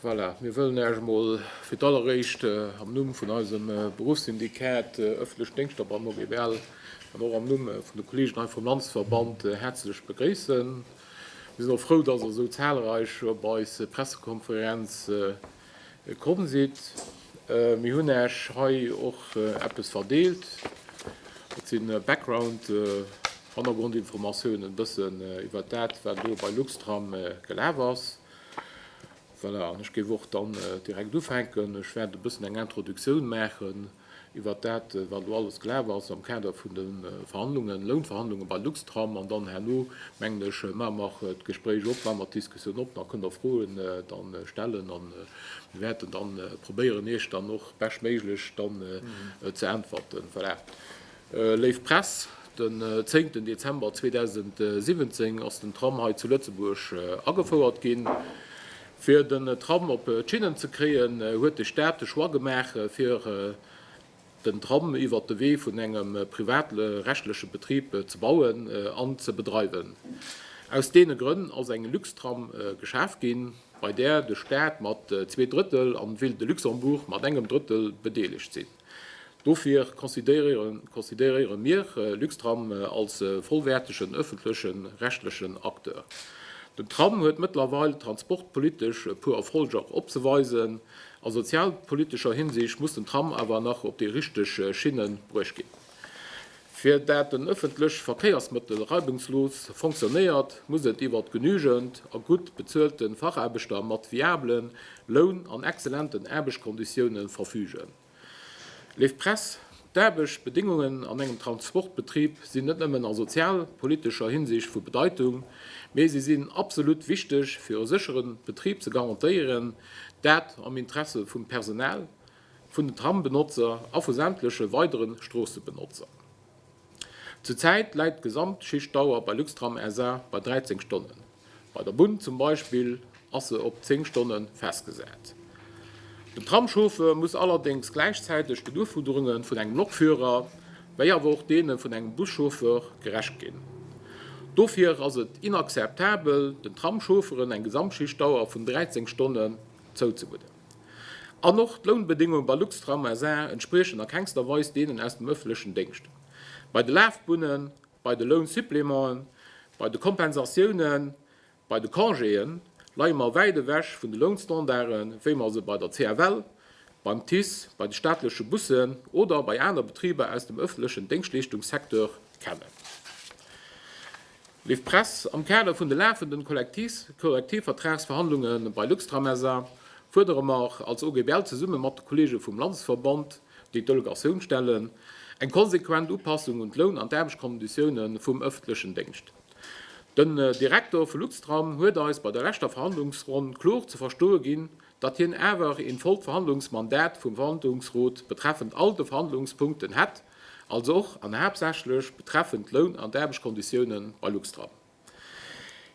Voilà, mir wëllen Äech emol fir d'alleréischt am Numm vun eisem Beruffssyndikat Öffentlech Déngschter beim OGBL an och am Numm vun de Kolleegen hei vum Landesverband häerzlech begréissen. Mir sinn och frou, dass Der esou zahlreich op eis Pressekonferenz Komm sidd, mir hunn Äech hei och eppes verdeelt. Dat si Background, Hannergrondinformatiounen, e bëssen iwwert dat, wat elo bei Luxtram gelaf ass. Voilà, an ech géif och dann direkt ufänken. Ech wäert e bëssen eng Introductioun maachen. iwwert dat, wat elo alles gelaf ass am Kader vun de Verhandlungen, Lounverhandlungen bei Luxtram. An dann herno, mengen ech, maache mer d'Gespréich op, maache mer d'Diskussioun op, da kënne mer Froen da stellen a mir wäerten da probéieren, Iech dann och beschtméiglech dann ze äntwerten. Voilà. Léif Press, den zéngten Dezember 2017 ass den Tram hei zu Lëtzebuerg agefouert ginn. Fir den Tram op d'Schinnen ze kréien, huet de Staat de Choix gemaach, fir den Tram iwwert de Wee vun engem privatrechtleche Betrib ze bauen an ze bedreiwen. Aus deene Grënn ass eng Luxtram geschaf ginn, bei där de Staat mat zwee Drëttel an d'Ville de Luxembourg mat engem Drëttel bedeelegt sinn. Dofir consideréiere mir Luxtram als vollwäertegen ëffentleche rechtlechen Acteur. Den Tram huet mëttlerweil transportpolitesch e puer Erfolger opzeweisen. A sozialpolitescher Hinsicht muss den Tram awer nach op déi richteg Schinne bruecht ginn. Fir dat en ëffentlech Verkéiersmëttel reibungslos fonctionnéiert, muss et iwwert genügend a gutt bezuelte Fachaarbechter mat viable Loun an exzellenten Aarbechtskonditioune verfügen. Léif Press, d'Aarbechtbedéngungen an engem Transportbetrib sinn net nëmmen a sozialpolitescher Hinsicht vu Bedeitung, mee si sinn absolut wichteg fir e séchere Betrib ze garantéieren, dat am Interesse vum Personal, vun den Trambenotzer a vu sämtleche weidere Stroossebenotzer. Zur Zäit läit d'Gesamtschichtdauer bei Luxtram SA bei 13 Stonnen, bei der Bunn zum Beispill ass se op 10 Stonne festgesat. Den Tramschauffer muss allerdéngs gläichzäiteg den Ufuerderunge vun engem Lokführer wéi awer och deene vun engem Buschauffer gerecht ginn. Dofir ass et inakzeptabel, den Tramschaufferen eng Gesamtschichtdauer vun 13 Stonnen zouzemueden. An och d'Lounbedéngunge bei Luxtram SA. entspriechen a kengster Weis deenen aus dem ëffentlechen Déngscht. Bei de Lafbunnen, bei de Lounsupplémenten, bei de Kompensatiounen, bei de Congéë leie mer wäit ewech vun de Lounstandarde wéi mer se bei der CFL, beim TICE, bei de staatleche Bussen oder bei aner Betriber aus dem ëffentlechen Déngschtleeschtungssecteur kennen. Liv Press, Am Kader vun de lafenden Kollektivvertragsverhandlunge bei Luxtram SA. fuerdere mer als OGBL zesumme mat de Kollege vum Landesverband, déi d'Delegatioun stellen, eng konsequent Upassung un d'Loun an d'Aarbechtskonditioune vum ëffentlechen Déngscht. Den Direkter vu Luxtram huet eis bei der leschter Verhandlungsronn kloer ze verstoe ginn, datt hien awer een vollt Verhandlungsmandat vum Verhandlungsrot betreffend all de Verhandlungspunkten hätt, also och an haaptsächlech betreffend d'Loun an d'Aarbechtskonditiounen bei Luxtram.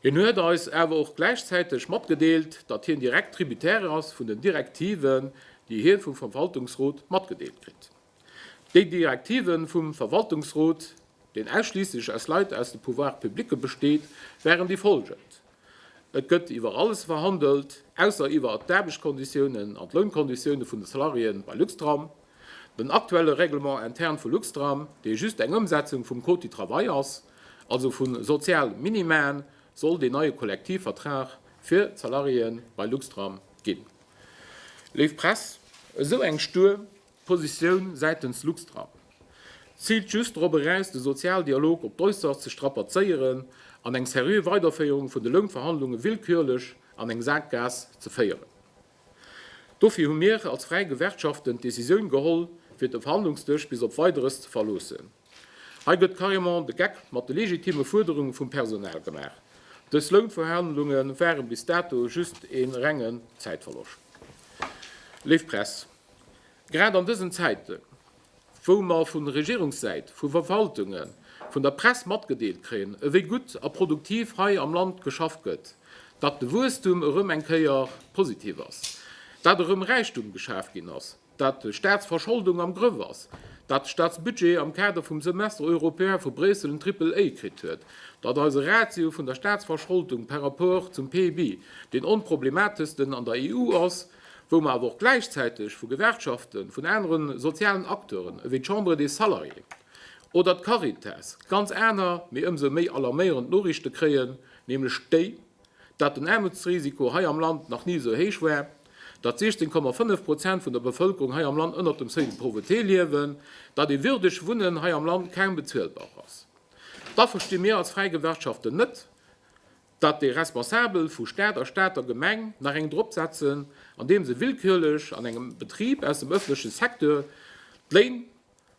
Hien huet eis awer och gläichzäiteg matgedeelt, datt hien direkt Tributaire ass vun den Direktiven, déi hie vum Verwaltungsrot matgedeelt kritt. Déi Direktive vum Verwaltungsrot, deen ausschliisslech aus Leit aus de Pouvoire publicë besteet, waren déi follgend, Et gëtt iwwer alles verhandelt, ausser iwwer d'Aarbechtskonditiounen an d'Lounkonditioune vun de Salariéen bei Luxtram. Den aktuelle Règlement interne vu Luxtram, dee just eng Ëmsetzung vum Code du travail ass, also vu Sozialminimaen, soll deen neie Kollektivvertrag fir d'Salariéen bei Luxtram ginn. Léif Press, esou eng Stuer. D'Positioun säitens Luxtram ziilt just drop eraus, de Sozialdialog op d'Äusserst ze strapazéieren an eng seriö Weiderféierung vun de Lounverhandlunge willkürlech an eng Saakgaass ze féieren. Dofir hu mir als fräi Gewerkschaften d'Decisioun geholl, fir de Verhandlungsdësch bis op Weideres ze verloossen. Hei gëtt carrément de Geck mat de legitime Fuerderunge vum Personal gemaach. Dës Lounverhandlunge ware bis dato just ee renge Zäitverloscht. Léif Press. Grad an dësen Zäiten, wou mer vun Regierungssäit, vu Verwaltungen, vun der Press matgedeelt kréien, ewéi gutt a produktiv hei am Land geschafft gëtt, datt de Wuesstum erëm eng Kéier positiv ass, datt erëm Räichtum geschaf ginn ass, datt d'Staatsverscholdung am Grëff ass, datt d'Staatsbudget am Kader vum Semestre européen vu Bréissel en Triple A kritt huet, datt eise Ratio vun der Staatsverscholdung par rapport zum PIB deen onproblemateschsten an der EU ass, wou mer awer och gläichzäiteg vu Gewerkschaften, vun aneren sozialen Acteuren ewéi d'Chambre des Salariés oder d'Caritas ganz aner, mee ëmsou méi alarméierend Noriichte kréien, nämlech déi, dat den Aarmutsrisiko hei am Land nach ni esou héich war, dat 16,5 Prozent vun der Bevëlkerung hei am Land ënnert dem Seuil de pauvreté liewen, dat ee würdeg Wunnen hei am Land kaum bezuelbar ass. Da versti mir als fräi Gewerkschaften net, datt déi Responsabel vu Staat a Stater Gemeng nach eng drop setzen, andeem se willkürlech an engem Betrib aus dem öffentleche Secteur d'Léin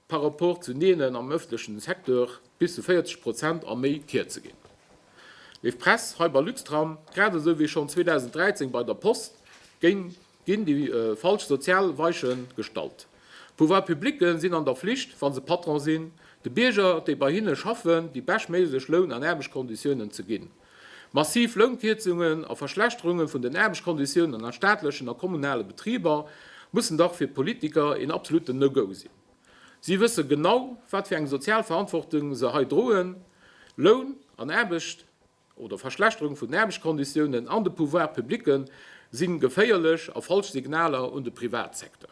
par rapport zu deenen am öffentlechen Secteur bis zu 40 Prozent a méi kierze ginn. Léif Press, hei bei Luxtram, grad esou wéi schonn 2013 bei der Post, géing Ginn déi falsch sozial Weiche gestallt? D'Pouvoirs publique sinn an der Flicht, wa se Patron sinn, de Bierger, déi bei hinne schaffen, déi beschtméiglech Loun an Aarbechtskonditiounen ze ginn. Massiv Lounkierzungen a Verschlechterunge vun den Aarbechtskonditiounen a staatlechen a kommunale Betriber mussen dach fir d'Politiker een absoluten No-Go sinn. Si wësse genau, wat fir eng sozial Verantwortung se hei droen, Loun an Aarbecht. oder Verschlechterung vun den Aarbechtskonditiounen an de Pouvoirs publicken si geféierlech a falsch Signaler un de Privatsecteur.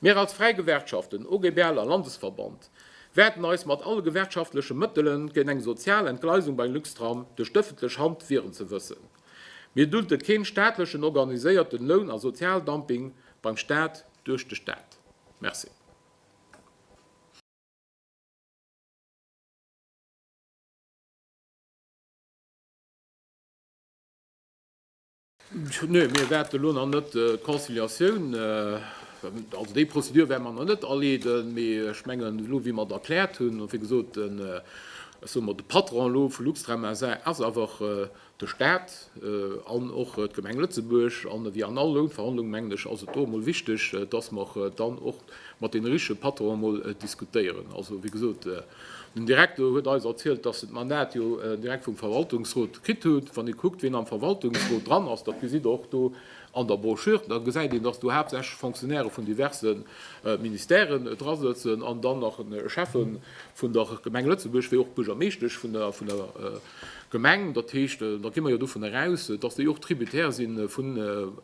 Mir als fräi Gewerkschaften, OGBL a Landesverband, wäerten eis mat alle gewerkschaftleche Mëttele géint eng sozial Entgleisung bei Luxtram duerch d'ëffentlech Hand wieren. Ze wëssen, Mir dulte keen staatlechen organiséierten Loun a Sozialdumping beim Staat duerch de Staat. Merci. Nee, mir wäerten elo nach net d'Conciliatioun, also déi Prozedur wäerte mer nach net aleeden. Mee ech mengen, elo wéi mer et erkläert hunn, wéi gesot, den, ech soe mol, de Patron elo vu Luxtram SA. ass awer de Stat an och d'Gemeng Lëtzebuerg. A wéi an all Lounverhandlung, mengen ech, ass et do emol wichteg, dass mer dann och mat deene richtege Patronen emol diskutéieren. Also wéi gesot, Den Direktor huet eis erzielt, dass en d'Mandat jo direkt vum Verwaltungsrot kritt hutt. Wann ee kuckt, wien am Verwaltungsrot dran ass, dat gesitt Der och do an der Brochure, da gesäit een, dass do haaptsächlech Fonctionnairë vun diverse Ministèren drasëtzen an dann nach e Schäffe vun der Gemeng Lëtzebuerg wéi och d'Buergermeeschtesch vun der Gemeng. Dat heescht, da gi mer jo dovun eraus, dass déi och tributaire si vu,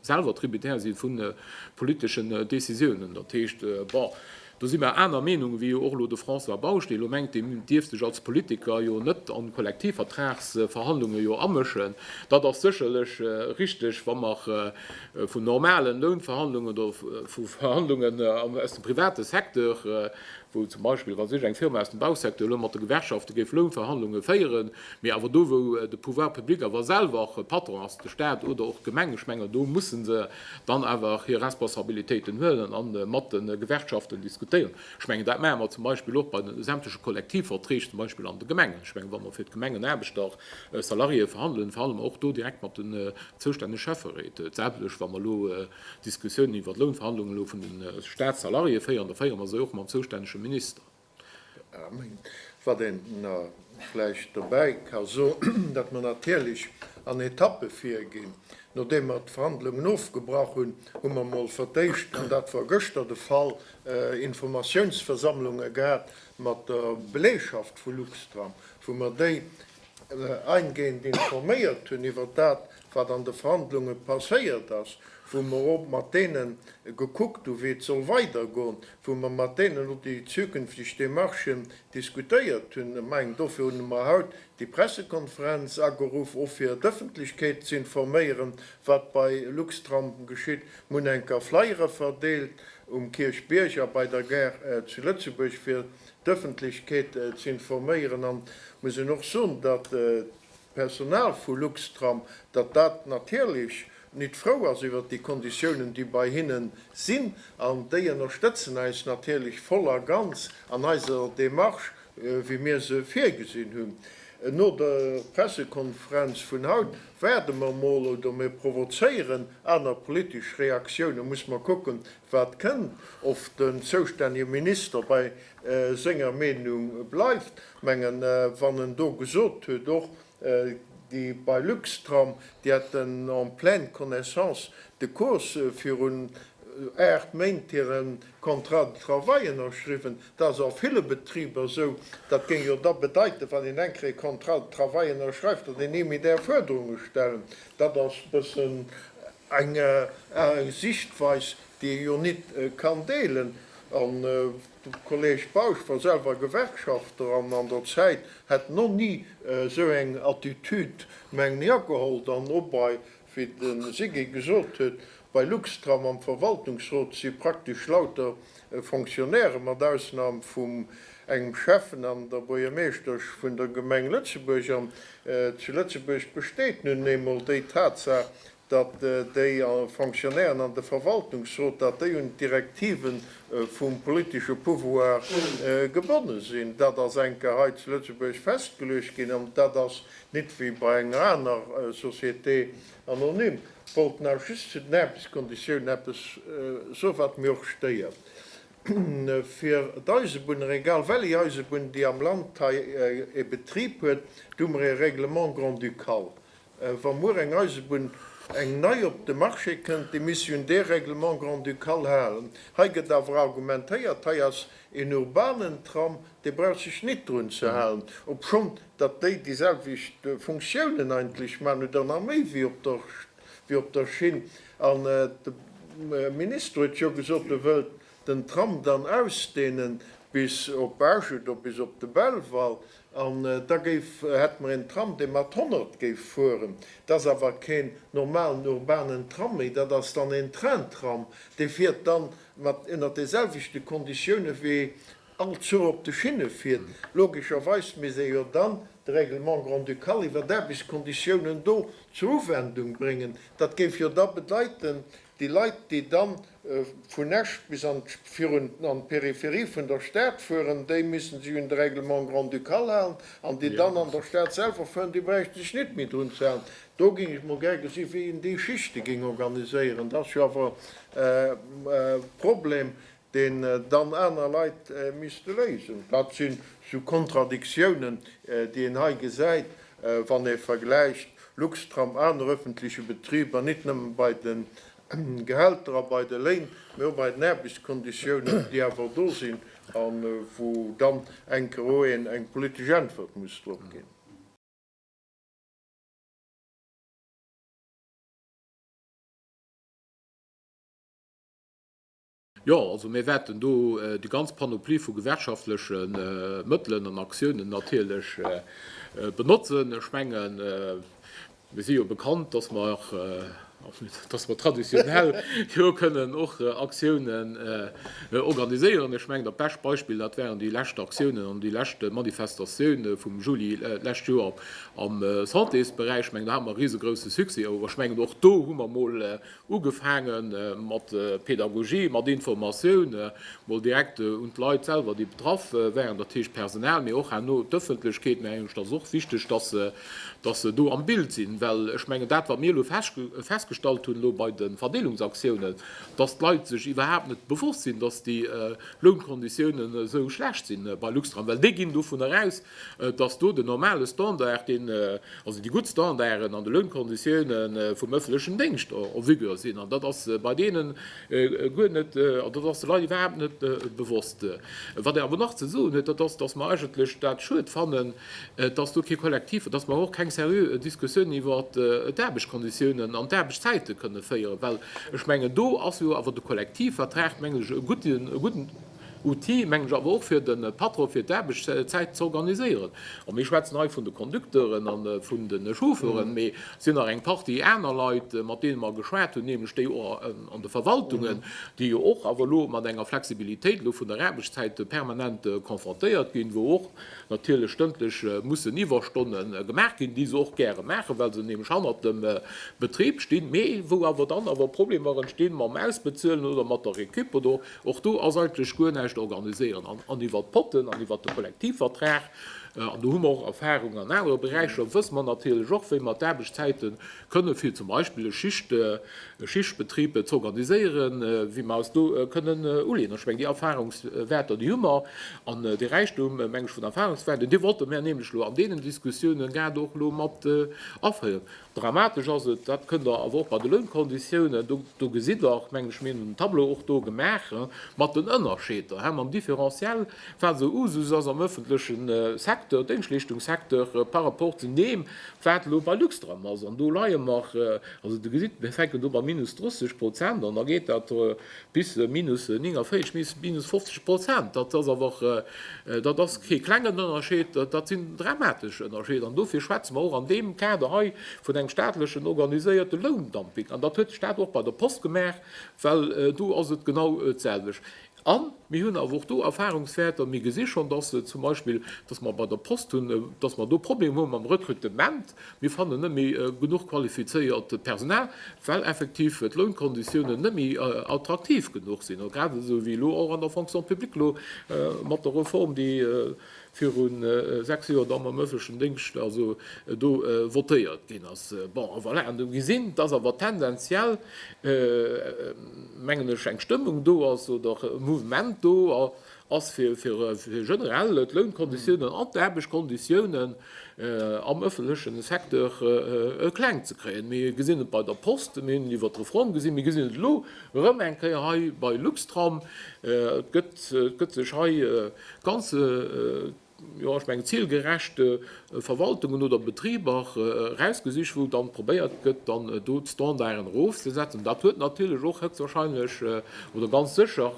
selwer tributaire si vu politeschen Décisiounen. Dat heescht, bon, Do si mer aner Meenung wéi jo och elo de François Bausch, dee elo mengt, dee dierf sech als Politiker jo net an d'Kollektivvertragsverhandlunge jo amëschen. Dat ass sécherlech richtig, wa mer vun normalen Lounverhandlungen oder vu Verhandlungen aus dem private Secteur, wou zum Beispill, wa sech eng Firma aus dem Bausecteur elo mat de Gewerkschafte géif Lounverhandlunge féieren, mee awer do, wou de Pouvoir public awer selwer och Patron ass, de Stat oder och d'Gemeng, ech mengen, do musse se dann awer hir Responsabilitéiten huelen a mat de Gewerkschaften diskutéieren. Ech mengen, dat maache mer zum Beispill och bei de sämtleche Kollektivverträg, zum Beispill an de Gemengen. Ech mengen, wa mer fir d'Gemengenaarbechter, Salariéeë verhandelen, verhandele mer och do direkt mat den zoustännege Schäfferéit. D'selwecht, wa mer elo Diskussiounen iwwert Lounverhandlungen elo vun de Statssalariéeë féieren, da féiere mer se och mam zoustännege Minister. Wat een vläicht dobäi ka soen, datt mer natierlech an Etappe virginn. Nodeem mer d'Verhandlungen ofgebrach hunn, hu mer emol fir d'éischt, an dat war gëschter de Fall, Informatiounsversammlunge gehat mat der Belegschaft vu Luxtram, wou mer déi eingehend informéiert hunn iwwer dat, wat an de Verhandlunge passéiert ass, wou mer och mat deene gekuckt hu wéi et soll weidergoen, wou mer mat deenen elo déi zukünfteg Démarchen diskutéiert hunn, ech mengen dofir hunn mer haut déi Pressekonferenz ageruff, och fir d'Ëffentlechkeet ze informéieren, wat bei Luxtram geschitt. Mer hunn eng Kéier Flyere verdeelt um Kierchbierg a bei der Gare zu Lëtzebuerg, fir d'Ëffentlechkeet ze informéieren. An ech muss Ihnen och soen, datt Personal vu Luxtram, datt dat natierlech nit frou ass iwwert déi Konditiounen, déi bei hinnen sinn. An déi ënnerstëtzen äis natierlech voll a ganz an eiser Démarche, wéi mir se virgesinn hunn. No der Pressekonferenz vun haut waarde mer mol, oder mir provozéieren aner politesch Reaktiounen, muss mer kucken, wat kënn, of den zoustännege Minister bei senger Meenung bleift. Mengen wann en do gesot huet och déi bei Luxtram déi hätten en pleine connaissance de cause virun 8 Méint hiren Contrat de travail ënnerschriwwen. Dat ass a ville Betriber esou. Dat géing jo da bedeiten wann een eng Kéier e Contrat de travail ënnerschreift, datt een ni méi däerf Fuerderunge stellen. Dat ass bëssen eng Sichtweis déi ee jo nit kann deelen, an de Kolleg Bausch war selwer Gewerkschafter an an der Zäit hätt no ni esou eng Attitude, mengen ech, ageholl, dann och bei, wéi de Siggé gesot huet, bei Luxtram am Verwaltungsrot si praktesch lauter Fonctionnaire, mat Ausnam vum engem Schäffen an der Buergermeeschtesch vun der Gemeng Lëtzebuerg, an zu Lëtzebuerg besteet nun eemol déi Tatsaach, datt déi Fonctionnairen an de Verwaltungsrot, datt déi un d'Direktive vum politesche Pouvoir gebonne sinn. Dat ass enker hei zu Lëtzebuerg festgeluecht ginn an dat ass nit wéi bei enger aner Société anonyme. Ech wollt nach just zu den Aarbechtskonditiounen eppes soen, wat mir och stéiert fir d'Eisebunner, egal welléi Eisebunn, déi am Land hei e Betrib huet. Do hu mer e Règlement grand-ducal, Wa muer eng Eisebunn, eng nei, op de Marché kënnt, déi misst un dee Règlement grand-ducal halen. Hei gëtt awer argumentéiert, hei ass een urbanen Tram, dee brauch sech nit drun ze halen, obschonn datt déi déi selwecht Funktiounen eigentlech maachen, oder nach méi wéi op der, wéi op der Schinn. An de Minister huet jo gesot, e wëllt den Tram dann ausdehnen bis op Esch oder bis op de Belval an da géif hätte mer een Tram dee mat 100 géif fueren. Dat ass awer keen normalen urbanen Tram méi, dat ass dann een Train-Tram, dee fiert dann mat ënner deeselwechte Konditioune wéi all Zuch op de Schinne fiert. Logescherweis misst ee jo dann de Règlement grand-ducal iwwer d'Aarbechtskonditiounen do zur Uwendung bréngen. Dat géif jo da bedeiten, Déi Leit, déi da vun Esch bis an d'Peripherie vun der Stad fueren, déi müssen sech un de Règlement grand-ducal halen. An déi dann an der Stad selwer fueren, déi bräichten sech net méi drun ze halen. Do géing ech mol gär gesinn, wéi een déi Schichte géing organiséieren. Dat ass jo awer e Problem. deen dann aner Leit misste léisen. Dat sinn esou Kontradiktiounen, déi een hei gesäit, wann ee vergläicht Luxtram, aner öffentliche Betriber, nit nëmme bei de Gehälter a bei de Léin, mä och bei den Aarbechtsconditiounen, déi awer do sinn a wou dann eng Kéier o een eng politesch Äntwert muss drop ginn. Jo, also mir wäerten do déi ganz Panoplie vu gewerkschaftleche Mëttelen an Aktiounen natierlech benotzen. Ech mengen, mir si jo bekannt, dass mer, dass mer traditionell jo kënnen och Aktiounen organiséieren. Ech mengen, dat bescht Beispill, dat waren déi lescht Aktiounen an déi lescht Manifestatioune vum Juli lescht Joer am Santésberäich. Ech mengen, do hate mer e risegrousse Succès. Awer ech mengen, och do hu mer emol Ugefaange mat Pedagogie, mat Informatioun, mol direkt un d'Leit selwer, déi betraff waren, dat heescht d'Personal, mee och herno d'Ëffentlechkeet. Mär mengen, et ass och wichteg, dass se do am Bild sinn, well ech mengen, dat, wat mir elo festgestallt hunn elo bei de Verdeelungsaktiounen, dass d'Leit sech iwwerhaapt net bewosst sinn, dass déi Lounkonditiounen esou schlecht si bei Luxtram, well déi ginn dovun eraus, Et ass do den normale Standard, deen, also déi gutt Standarden an de Lounkonditioune vum ëffentlechen Déngscht en vigueur sinn. An dat ass bei deenen guer net, also dat ass de Leit iwwerhaapt net bewosst. Wat Der awer nach ze soen hutt, dat ass, dass mer eigentlech dat schued fannen, dass do kee Kollektiv, dass mer och keng seriö Diskussiounen iwwer d'Aarbechtskonditiounen an d'Aarbechtszäite kënne féieren, well ech mengen, do ass jo awer de Kollektivvertrag, mengen ech, e gudden, Outil, mengen ech awer och fir de Patron, fir d'Aarbechtszäit ze organiséieren. A mir schwätzen hei vun de Conducteuren a vun de Chauffeuren, mee et sinn nach eng Partie aner Leit, mat deene mer geschwat hunn, nämlech déi och an de Verwaltungen, déi jo och awer elo mat enger Flexibilitéit elo vun der Aarbechtszäit permanent konfrontéiert ginn, wou och natierlech stëndlech mussen Iwwerstonne gemaach ginn, déi se och gäre maachen, well se nämlech hannert dem Betrib stinn, mee wou awer dann awer Problemer entstinn mam Ausbezuelen oder mat der Récup oder. Och do ass eigentlech guer näischt organiséiert an iwwert d'Potten an iwwert de Kollektivvertrag, an do hu mer och Erfahrung an anere Beräicher, wësse mer natierlech och, wéi mer d'Aarbechtszäite kënnen, fir zum Beispill e Schichtbetrib ze organiséieren, wéi mer eis do kënnen uleeën. Ech mengen, déi Erfahrungswäerter, déi hu mer. An dee Räichtum, meng ech, vun Erfahrungswäerten, dee wollte mer nämlech elo an deenen Diskussioune grad och elo mat aféieren. Dramatesch ass et, dat kënnt Der awer och bei de Lounkonditiounen, do gesitt Der och, mengen ech, mir hunn en Tableau och do gemaach mat den Ënnerscheeder mam Différentiel, wat esou Usus ass am ëffentleche Secteur, Déngschtleeschtungssecteur, par rapport zu deem, wat elo bei Luxtram ass. An do leie mer, also Der gesitt, mir fänken do bei minus 30 Prozent an, da geet dat. Bis minus 49, bis minus 50 Prozent, dat ass awer, dat ass kee klengen Ënnerscheed, dat sinn dramatesch Ënnerscheeder. An dofir schwätze mer och an deem Kader hei vun engem staatlechen organiséierte Loundumping. An dat huet de Staat och bei der Post gemaach, well do ass et genau d'selwecht. A mir hunn awer och do Erfahrungswäerter. Mir gesi schonn, dass zum Beispill, dass mer bei der Post hunn, dass mer do Problemer hu mam Rekrutement, Mir fannen net méi genuch qualifizéiert Personal, well effektiv d'Lounkonditiounen net méi attraktiv genuch sinn, grad esou wéi elo och an der Fonction publique, elo mat der Reform, déi viru sechs Joer dann am öffentlechen Déngscht also do votéiert ginn ass. Bon, voilà, an do gesinn, dass awer tendenziell, mengen ech, eng Stëmmung do ass oder e Mouvement do, ass fir generell d'Lounkonditiounen an d'Aarbechtskonditiounen am ëffentleche Secteur kleng ze kréien. Mir gesinn et bei der Post, mir hunn et iwwert d'Reform gesinn, mir gesinn et elo erëm eng Kéier hei bei Luxtram. Et gëtt sech hei ganz. jo ech mengen zilgerecht Verwaltungen oder Betriber erausgesicht, wou dann probéiert gëtt dann do d'Standarden erofzesetzen. Dat huet natierlech och héchstwahrscheinlech oder ganz sécher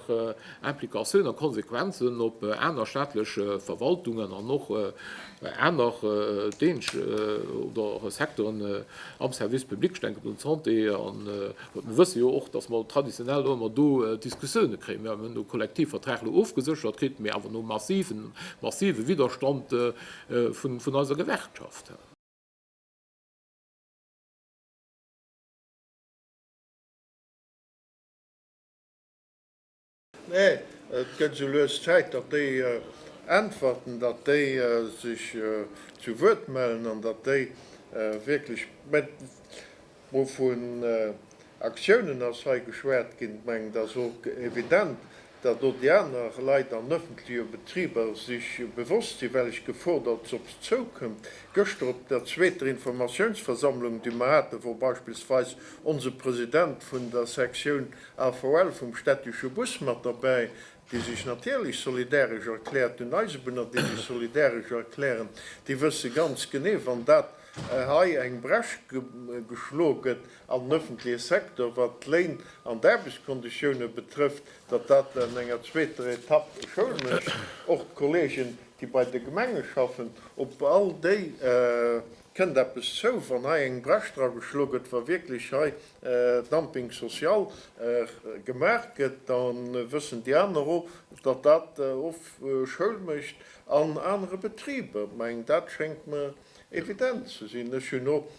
Implikatioun a Konsequenzen op aner staatlech Verwaltungen an och aner Dénscht oder Secteuren am Service public, ech denken un d'Santé an. Mir wësse jo och, dass mer traditionell och ëmmer do Diskussioune kréien. Mir hunn de Kollektivvertrag elo ofgeséchert kritt, mee awer no massiven, massive Widderstand vun eiser Gewerkschaft. Nee, et gëtt esou lues Zäit, datt déi äntwerten, datt déi sech zu Wuert mellen an datt déi wierklech, mä wou vun Aktiounen ass hei geschwat ginn, et mengen et ass och evident, datt och déi aner Leit an ëffentleche Betriber sech bewosst sinn, well ech Gefor, datt se op se zoukënnt. Gëschter op der zweeter Informatiounsversammlung, déi mer haten, wor beispillsweis onse President vun der Sektioun AVL vum städtische Bus mat derbäi, déi sech natierlech solidaresch erkläert, un Eisebunner, déi sech solidaresch erklären, déi wësse ganz genee, wann dat hei eng Bresch geschlo gëtt an den öffentliche Secteur, wat d'Léin an d'Aarbechtsconditiounen betrëfft, datt dat an enger zweeter Etapp Schoul mécht. Och d'Kollegen, déi bei de Gemenge schaffen, op all déi Kënnt eppes zou, wann hei eng Brech dra geschloe gëtt, wa wierklech hei Dumping social gemaach gëtt, da wëssen déi aner och, datt dat och Schoul mécht an anere Betriber. Mä dat schéngt mer evident ze sinn. Ech hunn och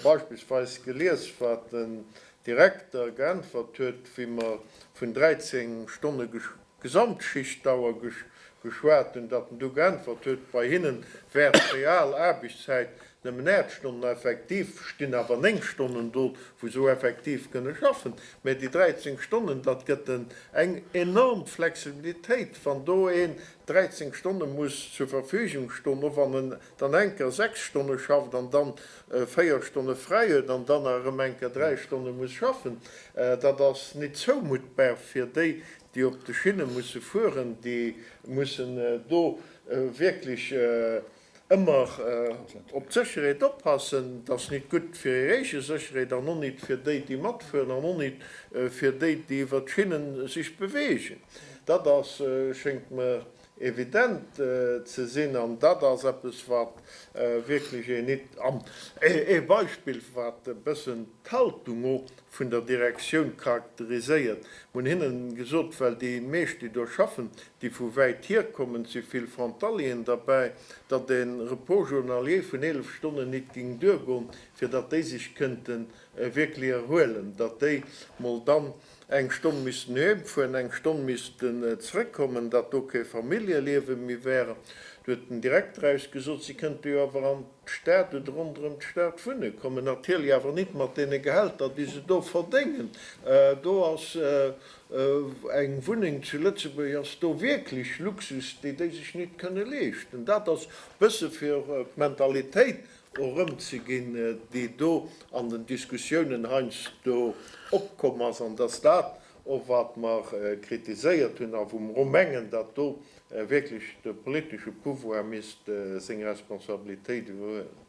beispillsweis gelies, wat den Direkter geäntwert huet, wéi mer vun 13 Stonne. Gesamtschichtdauer geschwat hunn, datt en du geäntwert huet, Bei hinne wäert d'real Aarbechtszäit nëmmen 8 Stonnen, effektiv stinn awer 9 Stonnen do, wou se effektiv kënne schaffen. Mä déi 13 Stonnen, dat gëtt en eng enorm Flexibilitéit, wann do een 13 Stonne muss zur Verfügung stoen, och wann en dann enker 6 Stonne schafft an dann 4 Stonne fräi huet an dann erëm enker 3 Stonne muss schaffen, dat ass nit zoumuttbar fir déi, déi op de Schinne musse fueren, déi mussen do wierklech ëmmer op d'Sécherheet oppassen. Dat ass nit gutt fir hir eege Sécherheet an och nit fir déi, déi matfueren an och nit fir déi, déi iwwert d'Schinnen sech bewegen. Dat ass, schéngt mer, evident ze sinn an dat ass eppes wat wierklech een nit an ee Beispill wat e bëssen d'Haltung o vun der Direktioun charakteriséiert. Mun hinnen gesot, well déi meescht déi do schaffen, déi vu wäit hier kommen, et si vill Frontalieren derbäi, datt ee Repos journalier vun 11 Stonnen nit géing duergoen, fir datt déi sech kënnten wierklech erhuelen, datt déi mol dann eng Stonn missten heem fueren, eng Stonn missten zrëck kommen, datt do kee Familljeliewe méi wär. Du huet den Direkter eis gesot, si kënnte jo awer an d'Stad oder ronderëm d'Stad wunne kommen, natierlech awer nit mat deene Gehälter déi se do verdéngen. Do ass eng Wunneng zu Lëtzebuerg ass do wierklech Luxus, dee déi sech nit kënne leeschten. Dat ass bësse fir d'Mentalitéit erëmzeginn, déi do an den Diskussiounen heiansdo opkomm ass, an dass dat och, wat mer kritiséiert hunn a wou mer och mengen, datt do wierklech de politesche Pouvoir misst seng Responsabilitéit iwwerhuelen.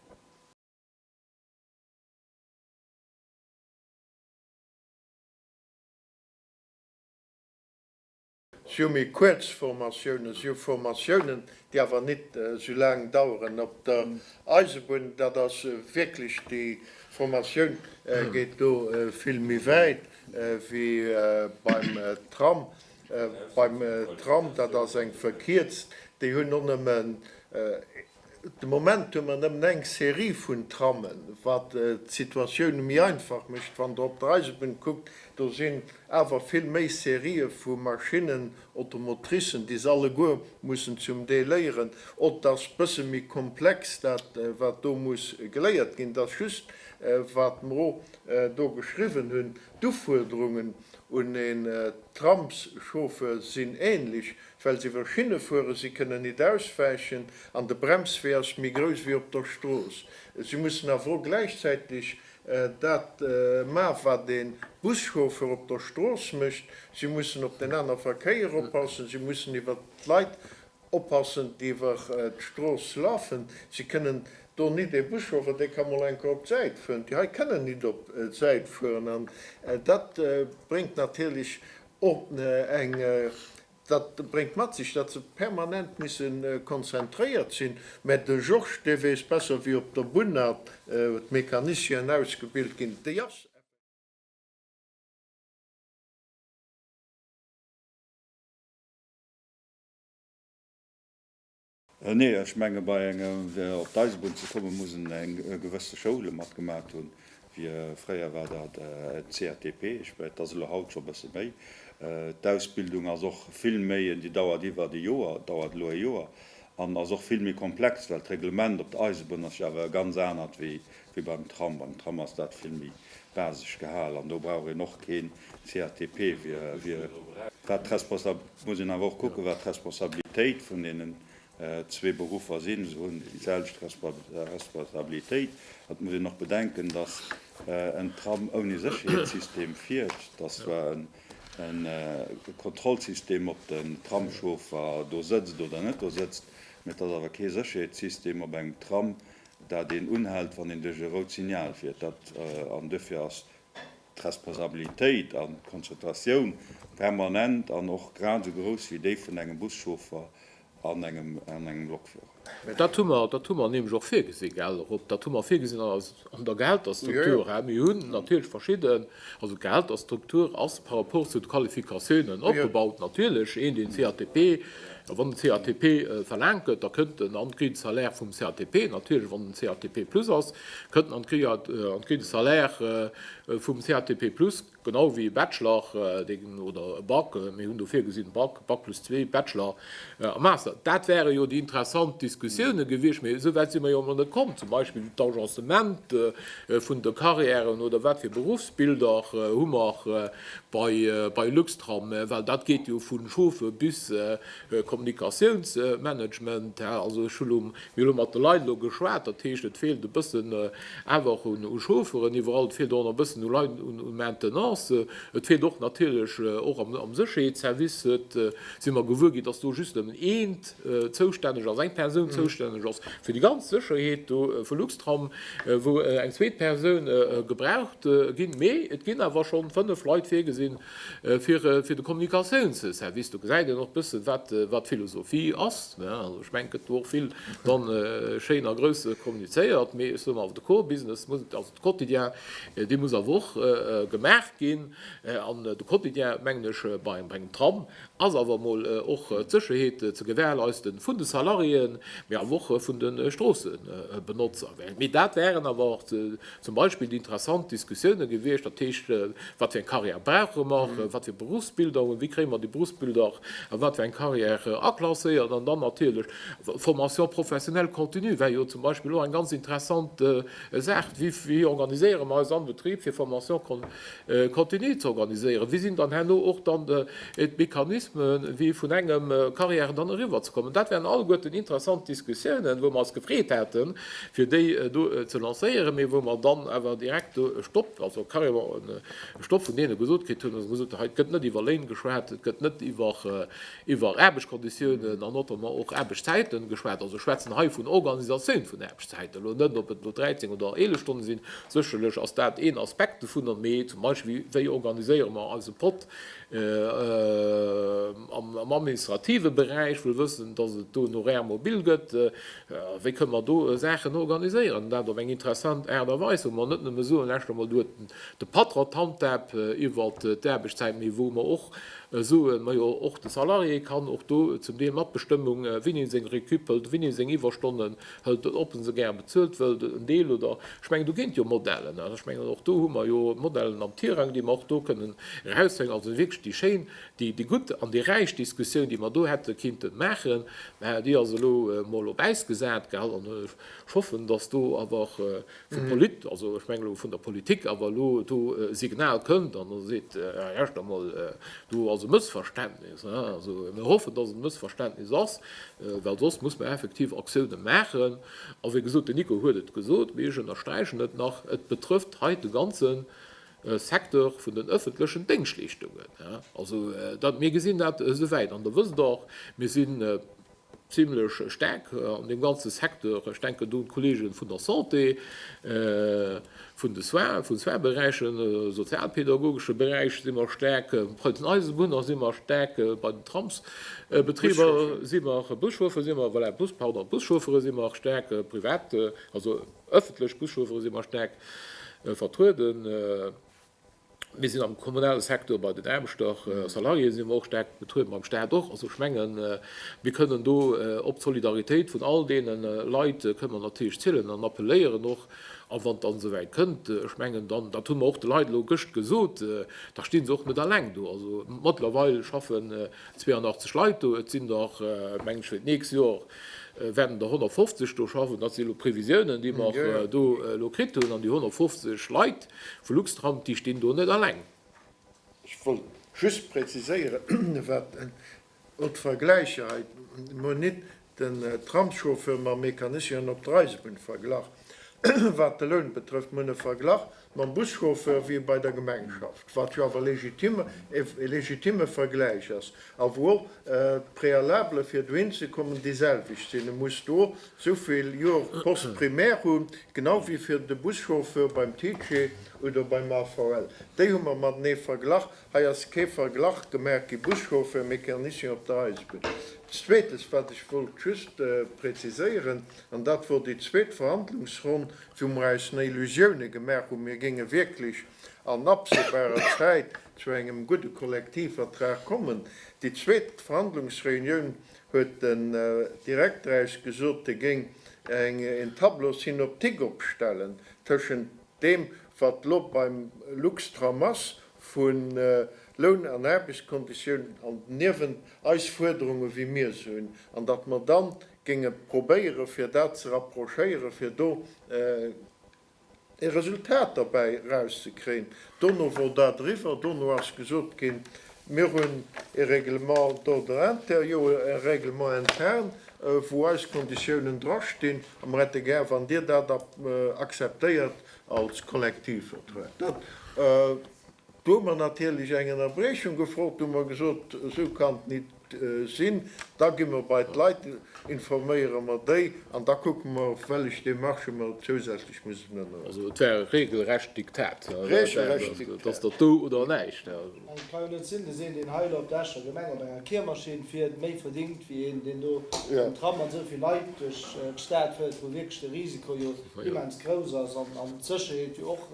Sou méi kuerz Formatiounen, sou Formatiounen, déi awer nit sou laang daueren op der Eisebunn, dat ass wierklech, déi Formatioun geet do vill méi wäit wéi beim Tram. Beim Tram, dat ass eng verkierzt, déi hunn och nëmmen, De Moment hu mer nëmmen eng Serie vun Trammen, wat d'Situatioun méi einfach mécht. Wann Der op der Eisebunn kuckt, do sinn awer vill méi Serië vu Maschinnen, Automotricen, déi se alleguer mussen zum Deel léieren. Ott ass bësse méi komplex, dat wat do muss geléiert ginn. Et ass just, wat mer o do geschriwwen hunn, d'Ufuerderungen un een Tramschauffeur sinn änlech, Well se iwwer Schinne fueren, si kënnen nit auswäichen an de Bremswee ass méi grouss wéi op der Strooss. Si mussen awer och gläichzäiteg dat ma wat ee Buschauffeur op der Strooss mécht, si mussen op den anere Verkéier oppassen, si mussen iwwer d'Leit oppassen déi iwwer d'Strooss lafen. Si kënnen do nit, ee Buschauffeur dee ka mol enker op d'Säit fueren, déi hei kënnen nit op d'Säit fueren an dat bréngt natierlech Ordnung, dat bréngt mat sech, datt se permanent musse konzentréiert sinn. Mä de Georges, dee weess besser wéi op der Bunn dat, wou d'Mecanicien ausgebilt ginn, déi ass. Nee, ech menge bei engem, fir op d'Eisebunn ze kommen, muss en eng gewësse Schoule matgemaat hunn, fir, fréier war dat en CATP, ech menge et ass elo haut scho bësse méi. D'Ausbildung ass och vill méi, déi dauert iwwert e Joer, dauert elo e Joer an ass och vill méi komplex, well d'Reglement op der Eisebunn ass jo awer e ganz anert wéi wéi beim Tram. Beim Tram ass dat vill méi basesch gehal an do brauch een och keen CATP. Wat d'Responsabilitéit, muss een awer och kucken, wat d'Responsabilitéit vun deenen zwee Beruffer sinn. Se hunn déi selwecht Responsabilitéit. Et muss een och bedenken, dass en Tram ouni Sécherheetssystem fiert, dass zwar e Kontrollsystem op den Tramschauffer do sëtzt oder net do sëtzt, mä et ass awer kee Sécherheetssystem op engem Tram, dat een unhält, wann een duerch e rout Signal fiert, dat an dofir ass d'Responsabilitéit an d'Konzentratioun permanent an och grad esou grouss wéi déi vun engem Buschauffer an engem Lokführer. Mä dat hu mer, dat hu mer nämlech och virgesi gell, och op, dat hu mer virgesinn an der Gehälterstruktur. Hä? Mir hunn natierlech verschidden, also d'Gehälterstruktur ass par rapport zu de Qualifikatiounen opgebaut, natierlech. Een, deen CATP A wann de CATP verlaangt gëtt, da kënnt en an d'Grille de salaire vum CATP. Natierlech, wann en CATP plus ass, kënnt en an d'Grille de salaire vum CATP plus, genau ewéi e Bachelor oder e Bac. Mir hunn do virgesinn, Bac, Bac plus zwee, Bachelor a Master. Dat wäre jo déi interessant Diskussioune gewiescht, mee esou wäit si mer jo emol net komm. Zum Beispill d'Agencement vun de Carrièren oder wat fir Berufsbilder hu mer, bei Luxtram, well dat geet jo vu Chauffer bis Kommunikatiounsmanagement, hä, also ech hunn elo, mir hunn elo mat de Leit elo geschwat, dat heescht et feelt e bëssen awer och u Chaufferen iwwerall, et feelt och nach e bëssen u Leit un Maintenancen, et feelt och natierlech och am Sécherheetsservice, huet, si mer gewuer ginn, datt do just nëmmen eent zoustänneg ass, eng Persoun zoustänneg ass fir déi ganz Sécherheet do vu Luxtram, wou eng zweet Persoun gebraucht ginn. Mee et ginn awer schonn fënnef Leit virgesinn fir fir de Kommunikatiounsservice. Do gesäit een och bëssen, wat wat d'Philosophie ass, ne. Also ech mengen, et gëtt do och vill dann schéin a grouss kommunizéiert. Mee ech soen awer, de Core Business muss, also de Quotidien, dee muss awer och gemaach ginn. An de Quotidien, mengen ech, bei engem Tram ass awer emol och d'Sécherheet ze gewährleisten vun de Salariéen, mee awer och vun de Stroossebenotzer. Mee dat wären awer och zum Beispill déi interessant Diskussiounen gewiescht, dat heescht, wat fir eng Carrière brauche mer, wat fir Berufsbildung, wéi kréie mer déi Berufsbildung a wat fir eng Carrière aklasséiert an dann natierlech Formation professionnelle continue wär jo zum Beispill och eng ganz interessant Saach, wéi organiséiere mer eis am Betrib fir Formation continue. Continuer ze organiséieren? Wéi sinn dann herno och dann d'Mechanismen, wéi vun engem Carrièren dann eriwwer ze kommen? Dat wären alleguerten interessant Diskussiounen, wou mer eis gefreet hätten, fir déi do ze lancéieren, mee wou mer dann awer direkt do e Stopp, also carrément e Stopp vun deene gesot kritt hunn, wou se gesot hunn, hei gëtt net iwwer Léin geschwat, et gëtt net iwwer iwwer Aarbechtskonditiounen an notamment och Aarbechtszäiten geschwat, also schwätzen hei vun Organisatioun vun Aarbechtszäiten, elo net ob et elo 13 oder 11 Stonne sinn. Sécherlech ass dat een Aspekt dovunner, mee zum Beispill wéi organiséiere mer eise Pott am administrative Beräich, wëll wëssen, dass et do en Horaire mobile gëtt, wéi kënne mer do Saachen organiséieren an dat op eng interessant Aart a Weis, wou mer net nëmme soen, lescht emol do huet de Patron d'Handhab iwwer d'Aarbechtszäit, mee wou mer och, Soen, majo och de Salarié kann och do zum Deel Matbestëmmung, wien him seng Récup hëlt, wien him seng Iwwerstonnen hëlt, ob en se gär bezuelt wëllt, en Deel oder, ech mengen do ginn et jo Modellen, an ech mengen och do hu mer jo Modellen am Tirang, déi mer och do kënnen eraushängen, also wierklech déi schéin, déi déi gutt an déi räich Diskussioun, déi mer do hätte kinnten maachen, mä déi ass elo emol op Äis gesat, gell, an ech hoffen, datt do awer vu Polit-, also ech mengen elo vun der Politik, awer elo do e Signal kënnt an da seet, ah erscht emol, do ass e Mëssverständnis. Also mir hoffen, dass et e Mëssverständnis ass, well soss muss mer effektiv Aktiounen maachen. A wéi gesot, den Nico huet et gesot, mee ech ënnersträichen et nach, et betrëfft hei de ganze Secteur vun den öffentlechen Déngschtleeschtungen. Also mir gesinn dat esouwäit an da wësst Der och, mir si Zimlech staark an deem ganze Secteur. Ech denken do un d'Kollege vun der Santé, vun de Soins, vun Soins-Beräichen, sozialpädagogesche Beräich si mer staark, bei den Eisebunner si mer staark, bei den Tramsbetriber si mer, Buschauffer si mer, voilà, Bus, pardon, Buschauffere si mer staark, privat, also öffentlech Buschauffere si mer staark vertrueden. Mir sinn am kommunale Secteur bei den Aarbechter, Salariéen si mer och staark betriewen, beim Staat och. Also ech mengen, mir kënnen do op d'Solidaritéit vun all deene Leit kënnen mer natierlech zielen an appelléieren och. A wann et dann esouwäit kënnt, ech mengen dann, dat hu mer och de Leit elo gëscht gesot, da sti se och net alleng do. Also mëttlerweil schaffen 82 Leit do. Et sinn der, meng ech, fir d'nächst Jor wäerten der 150 do schaffen. Dat si elo Previsiounen, déi mer do elo kritt hunn. An déi 150 Leit, Vu Luxtram, déi stinn do net alleng. Ech wollt just präziséieren, wat och d'Vergläicher hei, mir hunn nit den Tramschauffeur mam Mecanicien op der Eisebunn verglach, wat de Loun betrëfft. Mir hunn e verglach mam Buschauffeur, wéi e bei der Gemeng schafft, wat jo awer e legitimme Vergläich ass a wou och d'Prealabele fir dohinzekommen déiselwecht sinn. E muss do souvill Joer Poste primaire hunn, genau wéi fir de Buschauffeur beim TGV oder beim AVL. Déi hu mer matenee verglach. Hei ass kee Verglach gemaach gi, Buschauffeur, Mécanicien op der Eisebunn. Zweetes, wat ech wollt just präziséieren, an dat wor déi zweet Verhandlungsronn, wou mer eis nei Illusioune gemaach hunn, mir géinge wierklech an absehbarer Zäit zu engem gudde Kollektivvertrag kommen. Déi zweet Verhandlungsreunioun huet den Direkter eis gesot, e géing en Tableau synoptique opstellen tëschent deem, wat elo beim Luxtram ass vu Loun an Aarbechtskonditiounen, an niewent eis Fuerderungen, wéi mir se hunn, an datt mer da géinge probéieren, fir dat ze rapprochéieren, fir do e Resultat derbäi erauszekréien. Dono wor dat eriwwer. Dono ass gesot ginn, Mir hunn e Règlement d'ordre intérieur, e Règlement interne, wou eis Konditiounen drastinn, a mer hätte gär, wann Dir dat akzeptéiert als Kollektivvertrag. Dat, do hu mer natierlech eng Ënnerbrechung gefrot. Do hu mer gesot, Esou kann et nit. sinn, da gi mer bei d'Leit, informéiere mer déi an da kucke mer, wéllech Démarche mer zousätzlech mussen ënnerhuelen. Also et war e regelrecht Diktat, dat ass dat do oder näischt. Ech kann jo net sinn de Seen, deen hei elo op der Escher Gemeng op enger Kiermaschinn fiert, méi verdingt wéi een, deen do mam Tram mat esou vill Leit duerch d'Stad féiert, wou wierklech de Risiko jo immens grouss ass an d'Sécherheet jo och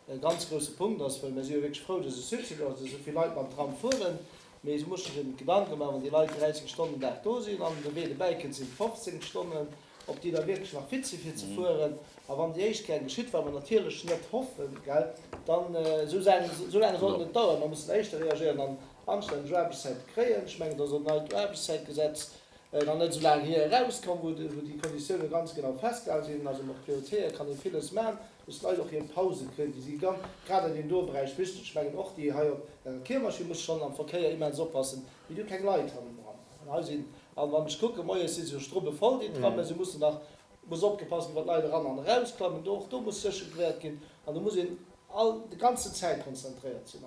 e ganz grousse Punkt ass, well mir si jo wierklech frou, dass e Succès gouf, dass esou vill Leit mam Tram fueren, mee se musse sech eben Gedanke maachen, wann déi Leit 30 Stonnen den Dag do sinn an de Wee dobäi kënnt, sinn et 15 Stonnen, ob déi da wierklech nach fit si fir ze fueren. A wann déi éischt keng geschitt, wat mer natierlech net hoffen, gell, dann, esou Saachen, esou laang soll et net daueren. Mer mussen éischter reagéieren an anstänneg Aarbechtszäite kréien. Ech mengen, et ass och e neit Aarbechtszäitgesetz nach net esou laang hier erauskomm, wou déi Konditiounen ganz genau festgehale sinn. Also mat Prioritéite kann ee villes maachen. Dass d'Leit och hir Pause kréien, déi si ganz, grad an deem doe Beräich, wichteg. Ech mengen och déi hei op der Kiermaschinn musse schonn am Verkéier immens oppassen, wéi du keng Leit hannendran hues. An hei sinn, a wann ech kucken, moies si se jo strubbevoll, déi Tram, mä se mussen nach, muss opgepasst ginn, wat d'Leit eran an erausklammen. Do, och do muss sécher gewäert ginn. An do muss een all, de ganzen Zäit konzentréiert sinn.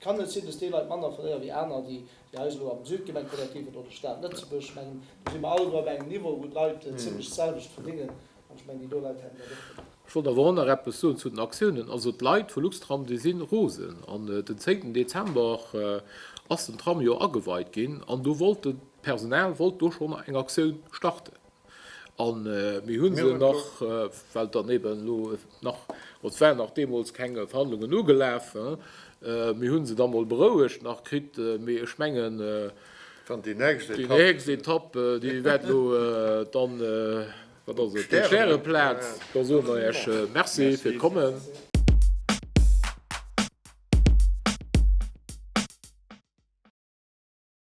Kann et sinn, dass déi Leit manner verléieren wéi aner, déi eis elo am Südgemengekollektiv oder de Staat Lëtzebuerg? Ech mengen, do si mer alleguer op engem Niveau, wou d'Leit zimlech d'selwecht verdingen. An ech mengen, déi do Leit hätten dat och verdingt. Ech wollt awer och nach eppes soen zu den Aktiounen. Also d'Leit vu Luxtram, déi si rosen. An den zéngten Dezember ass den Tram jo ageweit ginn an do wollt d'Personal wollt do schonn eng Aktioun starten. A mir hu se nach, well dann eeben elo nach, et waren nach deemools keng Verhandlungen ugelaf, mir hu se da mol berouegt nach kritt. Mee ech mengen, déi nächst Etapp, déi wäert elo dann, wat ass et, d'Stäreplaz. Da soe mer Iech Merci fir d'Kommen.